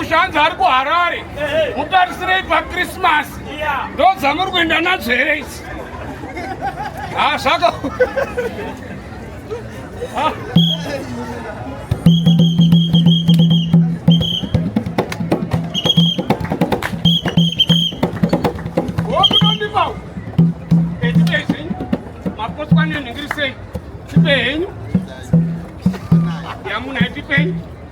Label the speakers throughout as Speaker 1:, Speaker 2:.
Speaker 1: mushanzi ari kuharare mutarisirei pakrismas ndo dzamuri kuenda nadzo here idzi ha zvaka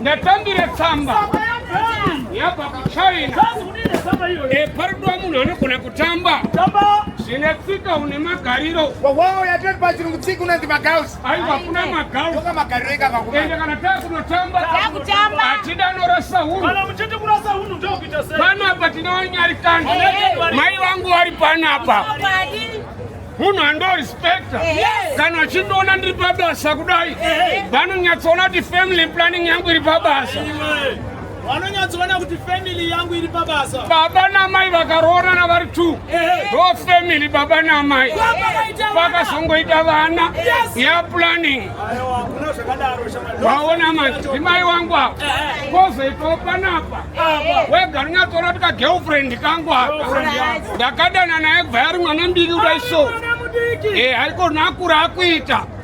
Speaker 1: ndatambire tsamba yabva kuchina eparudwa eh, munhu anogona kutamba zvine tsika une magariro wawawo yatoti
Speaker 2: pachirungu tsika unonzi magaus aiwa hakuna magau
Speaker 1: ende kana takunotamba hatida norasa unupanapa tinowanyarikana mai vangu vari panapa munhu andorispekta kana achindiona ndiri pabasa kudai vanonyatsoona kuti family planning yangu iri pabasa
Speaker 3: vanonyatsoona kuti family yangu iri pabasa baba namai
Speaker 1: vakaroorana vari two ndo family baba namai vakazongoita vana ya planning vaona madzimai wangu ava kozoitawo panapa wega rinyatsoona kuti kagirlfriend kangu aka ndakadana naye bva yari mwana mbiri kudai so eh, haikona akura akuita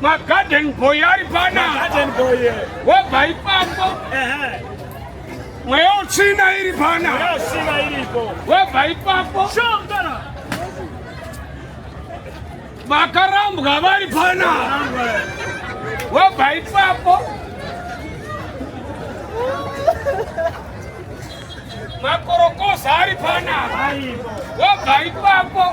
Speaker 1: magarden boy ari pana wobva ipapo mweya utsvina iri pana wobva ipapo vakarambwa vari pana wobva ipapo makorokoza ari panapa wobva ipapo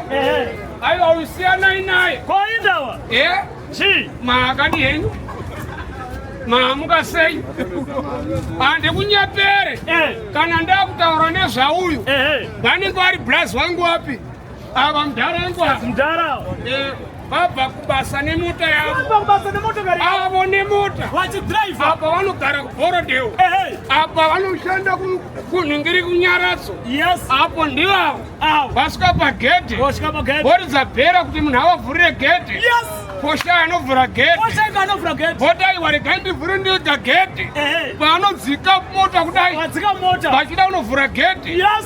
Speaker 1: aiwa usiyanai naye koindawa e
Speaker 3: eh? chii
Speaker 1: maakadi henyu maamuka sei handikunyepere eh. kana ndakutaura nezvauyu vanenge vari braz wangu wapi Ava mdara ngwa. Mdara. Eh. vabva kubasa nemota yavobasa nemotokari avo nemota vachidrive apa vanogara kuborodeo apa vanoshanda kunhingiri kunyaradzo yes apo ndivavo vasvika pagedhe voridza bhera kuti munhu avavhurire gedhe yes posha anovhura gedhe votaiwa regai ndivhure ndiga gedhe paanodzika mota kudai vachida kunovhura gedhe yes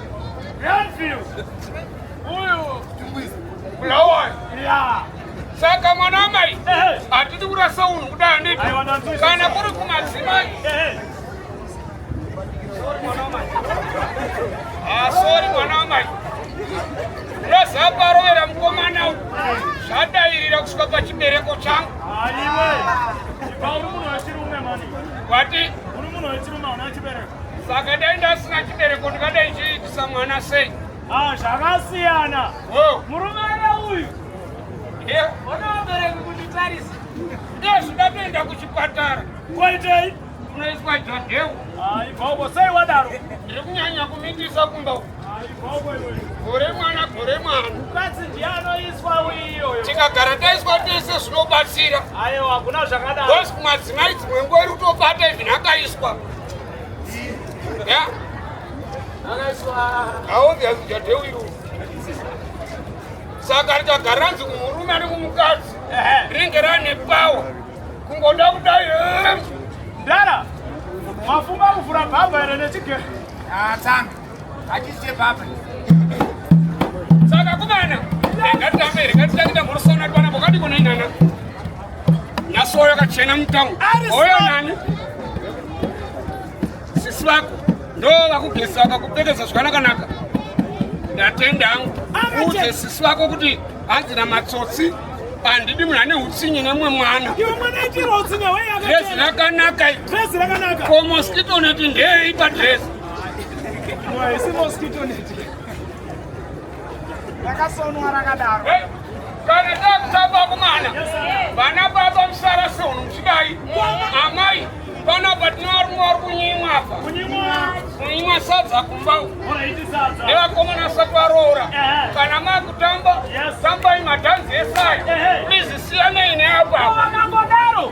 Speaker 1: saka mwana amai hatidi kurasa unhu kudai anditi kana kuri kumadzimai asori ah, mwana amai unozaparovera mukomana u zvadairira kusvika pachibereko changu wati Saka dai ndasina chibereko ndingadai chiitisa mwana sei? Ah, zvakasiyana.
Speaker 3: Oh. Murume ana uyu. Yeah. Ona vabereki
Speaker 1: kunditarisa. Ndezvo ndatoenda kuchipatara. Koitei?
Speaker 3: Unoiswa
Speaker 1: jodhewu. Ah, ibvoko sei
Speaker 3: wadaro? Ndiri kunyanya
Speaker 1: kumitisa kumba uku.
Speaker 3: gore mwana gore
Speaker 1: mwana mukadzi
Speaker 3: ndiye anoiswa uyiyoyo tikagara taiswa
Speaker 1: tese zvinobatsira aiwa hakuna
Speaker 3: zvakadaro bcause kumadzimai dzimwe
Speaker 1: nguva iri kutobata even akaiswa ya aobvious jadeu iru saka rikagara ranzi kumurume ane kumukadzi rinenge rane pawa kungoda kudai ndara
Speaker 3: mafunga kuvhura bhabha ere nechigero atanga ah,
Speaker 2: saka
Speaker 1: kumana ngatitambe ngatitange tamborosana kwana pokati kona inana nyaso oyo kachena mutamu oyo nani sisi vako ndo vakugeza vakakupfekeza zvakanakanaka ndatenda hangu uudze sisi vako kuti hanzi na matsotsi handidi munhu ane utsinye nemumwe mwana
Speaker 3: dresi rakanaka
Speaker 1: ko
Speaker 3: moskito neti
Speaker 1: ndeyeipa dresi
Speaker 3: Haisi mosquito net. Rakasonwa rakadaro. Kana
Speaker 1: takutamba kumana. Vana baba musara sono muchidai. Amai pana patinarumwa vari kunyimwa apa. Kunyimwa sadza kumba. Nevakomana asati varoora. Kana makutamba tambai madhanzi esaya. Please siyanei neapa. Vakangodaro.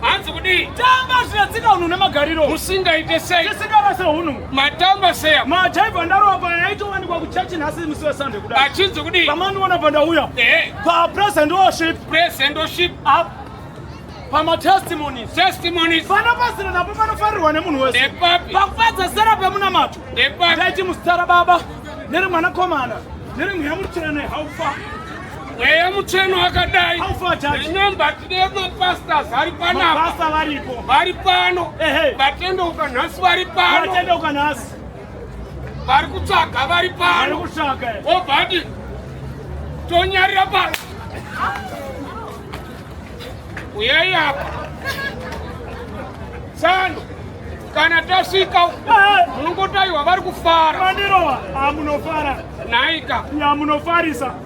Speaker 3: hanzi kudii
Speaker 1: tamba zviya tsika
Speaker 3: hunhu nemagariro musingaite sei
Speaker 1: tisingarase hunhu
Speaker 3: matamba seya
Speaker 1: majaivha ndarova paya
Speaker 3: yaitowanikwa kuchachi nhasi musi wesande kuda achinzi kudii pamandiona
Speaker 1: pandauya
Speaker 3: papresent worship present worship up
Speaker 1: pamatestimonies
Speaker 3: testimonies pana
Speaker 1: pasina napo
Speaker 3: panofarirwa nemunhu wese pakufadza
Speaker 1: sera
Speaker 3: pemunamato ndaiti
Speaker 1: musitara baba
Speaker 3: neri mwanakomana neri mweya mutsvene haufa mweya
Speaker 1: mutsveno wakadai remember
Speaker 3: tine
Speaker 1: mapastors ari panapa
Speaker 3: vari pano
Speaker 1: vatendeuka nhasi vari pano
Speaker 3: vari
Speaker 1: kutsvaga vari pano
Speaker 3: obadi
Speaker 1: tonyarira pano uyai apa tsano kana tasvika munongotaiwa vari kufara
Speaker 3: naika
Speaker 1: yamunofarisa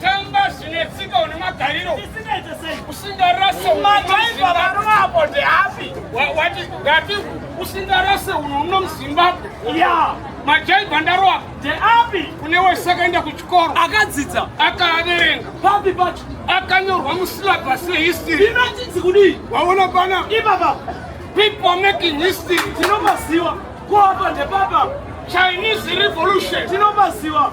Speaker 1: tamba zvine tsika une magariro usingarase madhaiva varume apo ndeapi wati ngati usingarase uno uno muzimbabwe ya majaiva ndaroa ndeapi kune wese akaenda kuchikoro akadzidza
Speaker 3: akaaverenga
Speaker 1: papi pacho
Speaker 3: akanyorwa
Speaker 1: musilabhasi yehistory inochinzi kudii
Speaker 3: waona pana
Speaker 1: ipapa
Speaker 3: people
Speaker 1: making history tinomaziwa
Speaker 3: kuapa ndepapa chinese
Speaker 1: revolution tinomaziwa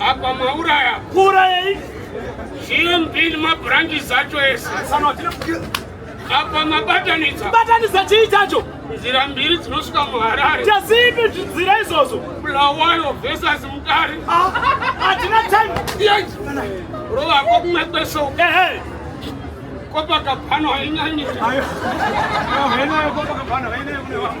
Speaker 1: Apa mauraya. Kuurayei? GMB nemabranches zacho ese. Apa mabatanidza. Batanidza chii chacho?
Speaker 3: Nzira mbiri
Speaker 1: dzinosvika muHarare. Chazipi nzira
Speaker 3: izvozvo? Bulawayo
Speaker 1: versus Mutare. Ah, hatina
Speaker 3: time. Yes.
Speaker 1: Rova ko kumwe kweso. Ehe. Copacabana hainyanyi. Hainayo Copacabana, hainayo kune vanhu.